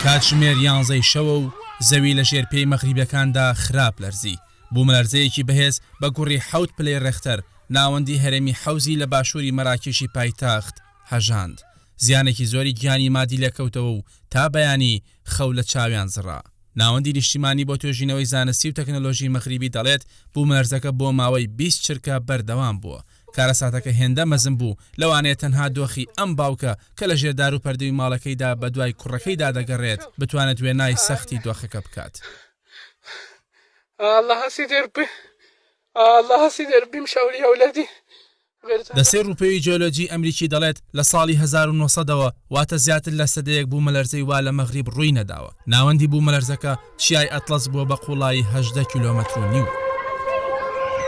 کاتژمێر یانزەی شەوە و زەوی لە ژێر پێی مەغریبەکاندا خراپ لەرزی، بوومەلەرزەیەکی بەهێز بە گوڕی حەوت پلەی ڕێختەر ناوەندی هەرێمی حەوزی لە باشووری مەراکێشی پایتەخت هەژاند، زیانێکی زۆری گیانی مادی لێکەوتەوە و تا بەیانی خەو لە چاویان زڕا. ناوەندی نیشتیمانی بۆ توێژینەوەی زانستی و تەکنەلۆژی مەغریبی دەڵێت، بوومەلەرزەکە بۆ ماوەی بیست چرکە بەردەوام بووە، کارەساتەکە هێندە مەزن بوو، لەوانەیە تەنها دۆخی ئەم باوکە کە لە ژێر دار و پەردووی ماڵەکەیدا بە دوای کوڕەکەیدا دەگەڕێت، بتوانێت وێنای سەختی دۆخەکە بکات. دەستەی ڕووپێوی جیۆلۆجیی ئەمریکی دەڵێت، لە ساڵی هەزار و نۆ سەد ەوە، واتە زیاتر لە سەدەیەک بوومەلەرزەی وا لە مەغریب ڕووی نەداوە. ناوەندی بوومەلەرزەکە چیای ئەتڵەس بووە بە قوڵایی هەژدە کیلۆمەتر و نیو.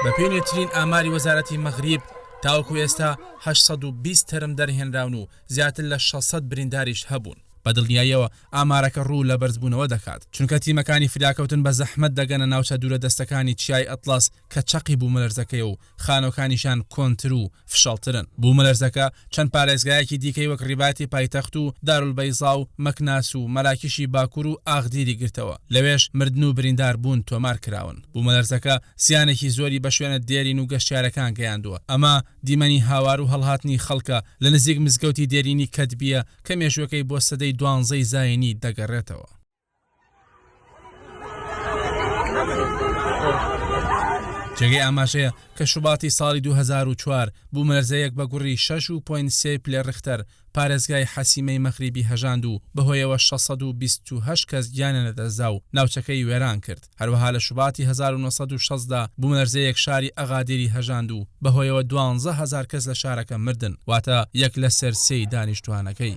بەپێی نوێترین ئاماری وەزارەتی مەغریب، تاوەکو ئێستا هەشت سەد و بیست تەرم دەرهێنراون و زیاتر لە شەش سەد برینداریش هەبوون. بە دڵنیاییەوە ئامارەکە روو لە بەرزبوونەوە دەکات، چونکە تیمەکانی فریاکەوتن بە زەحمەت دەگەنە ناوچە دوورەدەستەکانی چیای ئەتڵەس کە چەقی بوومەلەرزەکەیە و خانووەکانیشان کۆنتر و فشەڵترن. بوومەلەرزەکە چەند پارێزگایەکی دیکەی وەک ڕیباتی پایتەخت و دارولبەیزا و مەکناس و مەراکیشی باکوور و ئاغدیری گرتەوە، لەوێش مردن و بریندار بوون تۆمار کراون. بوومەلەرزەکە زیانێکی زۆری بە شوێنە دێرین و گەشتیارەکان گەیاندووە، ئەمە دیمەنی هاوار و هەڵهاتنی خەڵکە لە نزیک مزگەوتی دێرینی کەدبیە کە مێژووەکەی بۆ سەدەی دوانزەی زاینی دەگەڕێتەوە. جێگەی ئاماژەیە کە شوباتی ساڵی 2004 بوومەلەرزەیەک بە گوڕی 6.3 پلەی ڕیختەر پارێزگای حەسیمەی مەغریبی هەژاند و بەهۆیەوە 628 کەس گیانیان لەدەستدا و ناوچەکەی وێران کرد، هەروەها لە شوباتی 1960 دا بوومەلەرزەیەک شاری ئەغادیری هەژاند و بەهۆیەوە دوانزە هەزار کەس لە شارەکە مردن، واتە یەک لەسەر سێی دانیشتووانەکەی.